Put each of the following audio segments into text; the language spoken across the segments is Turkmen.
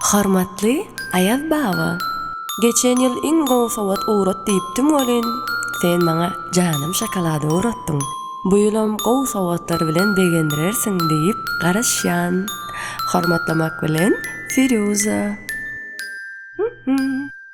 Hormatly Aýaz baba! Geçen ýyl iň gowy sowat ugrat diýipdiň welin, sen maňa janym şokolady ugratdyň. Bu ýylam gowy sowatlar bilen begendirersiň diýip garaşýan. Hormatlamak bilen, Firýuza.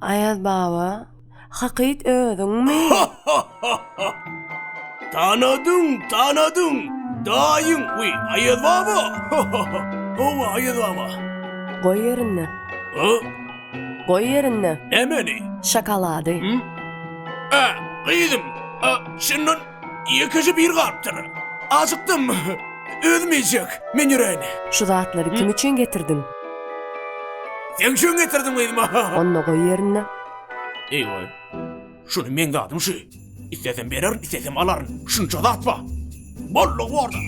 Aýaz baba, hakyt özüňmi? Tanadym, tanadym! Daýyň, we, Aýaz baba! Hawa, Aýaz baba! Goý ýerinde. A? Goý ýerinde. Nämeni? Şokolady. Hä, gyzym, a, şundan Ýekeje bir galypdyr. Ajykdym. Özüm iýjek. Men ýöräýin. Şu zatlary kim üçin getirdiň? Seň üçin getirdim, gyzym. Onda goý ýerinde. Eý-we. Şuny meň zadym şu. Islesem bererin, islesem alaryn. Şunça zat bar. Boldugy bor-da.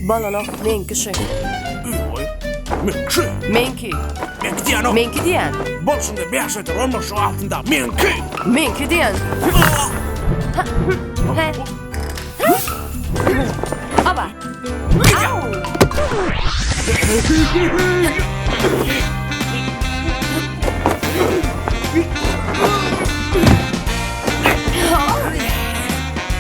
Balanak meňki şy. Ýoý. Meňki. Meňki. Meňki diýanok. Meňki diýän. Bolşunda bäş eder onmyş şo altynda. Meňki. Meňki diýän. Hä. Aba. Au.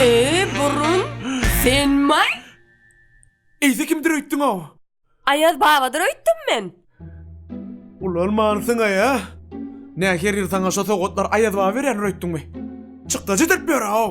Eee, burun, senmaý? Eýse kimdir öýtdüň-ow? Aýaz babadyr öýtdüm men. Ulalmansyň-aý-a? Nä, her ýyl saňa şo sowgatlar Aýaz baba berýändir öýtdüňmi? Çykdajy edip ýör-ow!